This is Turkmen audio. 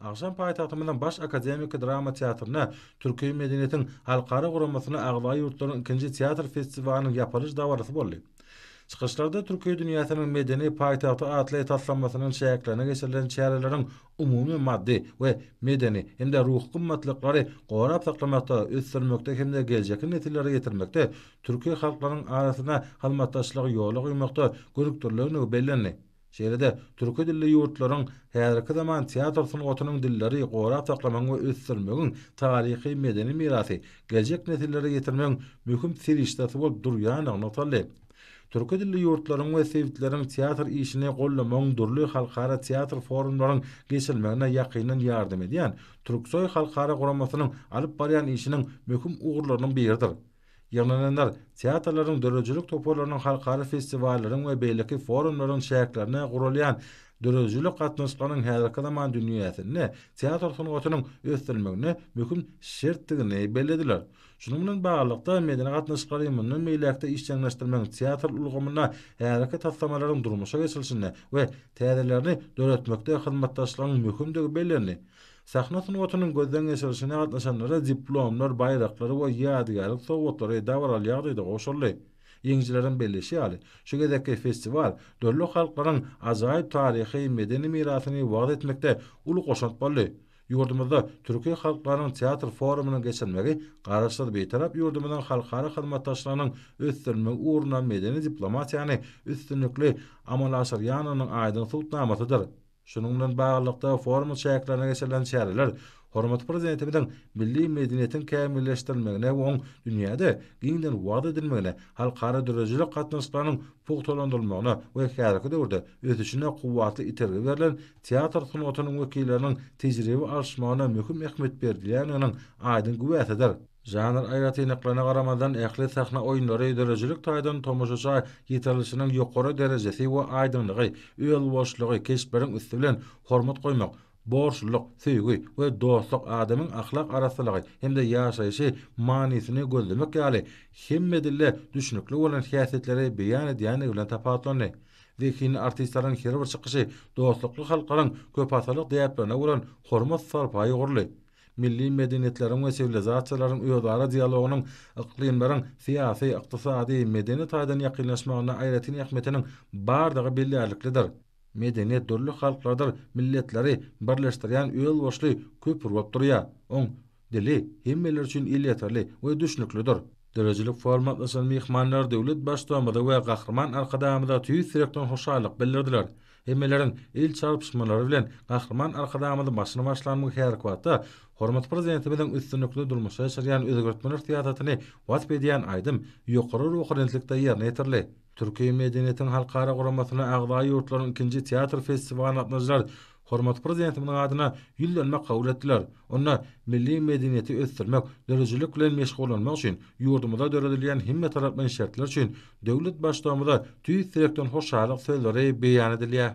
Agşam paýtagtymyzyň Baş akademiki drama teatrynda Türki medeniýetiň halkara guramasyna agza ýurtlaryň ikinji teatr festiwalynyň ýapylyş dabarasy boldy. Çykyşlarda Türki dünýäsiniň medeni paýtagty atly taslamasynyň çäklerinde geçirilen çäreleriň umumy maddy we medeni hem-de ruhy gymmatlyklary gorap saklamakda, ösdürmekde hem-de geljekki nesillere ýetirmekde türki halklaryň arasynda hyzmatdaşlygy ýola goýmakda gönükdirilenligi bellendi. Şeýle-de, türki dilli ýurtlaryň häzirki zaman teatr sungatynyň dilleri gorap saklamagyň we ösdürmegiň taryhy-medeni mirasy geljek nesillere ýetirmegiň möhüm serişdesi bolup durýandygy nygtaldy. Türki dilli ýurtlaryň we sebitleriň teatr işini goldamagyň dürli halkara teatr forumlaryň geçirilmegine ýakyndan ýardam edýän Türksoý halkara guramasynyň alyp barýan işiniň möhüm ugurlarynyň biridir. Ýygnananlar teatrlaryň, döredijilik toparlarynyň, halkara festiwallaryň we beýleki forumlaryň çäklerinde guralýan döredijilik gatnaşyklarynyň häzirki zaman dünýäsinde teatr sungatynyň ösdürilmegine möhüm şertdigini bellediler. Şunuň bilen baglylykda, medeni gatnaşyklary mundan beýläk-de işjeňleşdirmegiň, teatr ulgamynda häzirki taslamalaryň durmuşa geçirilişinde we täzelerini döretmekde hyzmatdaşlygyň möhümdigi bellendi. Sahna sungatynyň gözden geçirilişine gatnaşanlara diplomlar, baýraklar we ýadygärlik sowgatlary dabaraly ýagdaýda gowşuryldy. Ýeňijileriň belleýşi ýaly, şu gezekki festiwal dürli halklaryň ajaýyp taryhy, medeni mirasyny wagyz etmekde uly goşant boldy. Ýurdumyzda Türki halklarynyň teatr forumynyň geçirilmegi Garaşsyz, Bitarap ýurdumyzyň halkara hyzmatdaşlygynyň ösdürilmegi ugrunda medeni diplomatiýany üstünlikli amala aşyrýanynyň aýdyň subutnamasydyr. Şunuň bilen baglylykda, forumy çäklerinde geçirilen çäreler hormatly Prezidentimiziň milli medeniýetiň kämilleşdirilmegine we oň dünýäde giňden wagyz edilmegine, halkara döredijilik gatnaşyklarynyň pugtalandyrylmagyna we häzirki döwürde ösüşine kuwwatly itergi berlen teatr sungatynyň wekilleriniň tejribe alyşmagyna möhüm ähmiýet berilýändiginiň aýdyň güwäsidir. Žanr aýratynlyklaryna garamazdan, ähli sahna oýunlary döredijilik taýdan tomaşaça ýetirilişiniň ýokary derejesi we aýdyňlygy, özboluşlygy, keşpleriň üsti bilen hormat goýmak, borçlulyk, söýgi we dostluk, adamyň ahlak arassalygy hem-de ýaşaýşy manysyny gözlemek ýaly hemme dilde düşnükli bolan häsiýetleri beýan edýändigi bilen tapawutlandy. Zehinli artistleriň her bir çykyşy dostlukly halklaryň köpasyrlyk däplerine bolan hormat-sarpaýy ugurly Milli medeniýetleriň we siwilizasiýalaryň özara dialogynyň yklymlaryň syýasy, ykdysady, medeni taýdan ýakynlaşmagynda aýratyn ähmiýetiniň bardygy bellärliklidir. Medeniýet dürli halklardyr milletleri birleşdirýän özboluşly köpri bolup durýar. Oň dili hemmeler üçin elýeterli we düşnüklidir. Döredijilik foruma gatnaşan myhmanlar döwlet Baştutanymyza we Gahryman Arkadagymyza tüýs ýürekden hoşallyk bildirdiler. Hemmeleriň el çarpyşmalary bilen Gahryman Arkadagymyzy başyny başlan bu häzirki wagtda hormatly Prezidentimiziň üstünlikli durmuşa geçirýän özgertmeler syýasatyny wasp edýän aýdym ýokary ruhubelentlikde ýerine ýetirildi. Türki medeniýetiň halkara guramasyna agza ýurtlaryň ikinji teatr festiwalyna gatnaşyjylar hormatly Prezidentimiziň adyna ýüzlenme kabul etdiler. Onda milli medeniýeti ösdürmek, döredijilik bilen meşgullanmak üçin ýurdumyzda döredilýän hemmetaraplaýyn şertler üçin Döwlet Baştugumyza tüýs ýürekden hoşallyk sözleri beýan edilýär.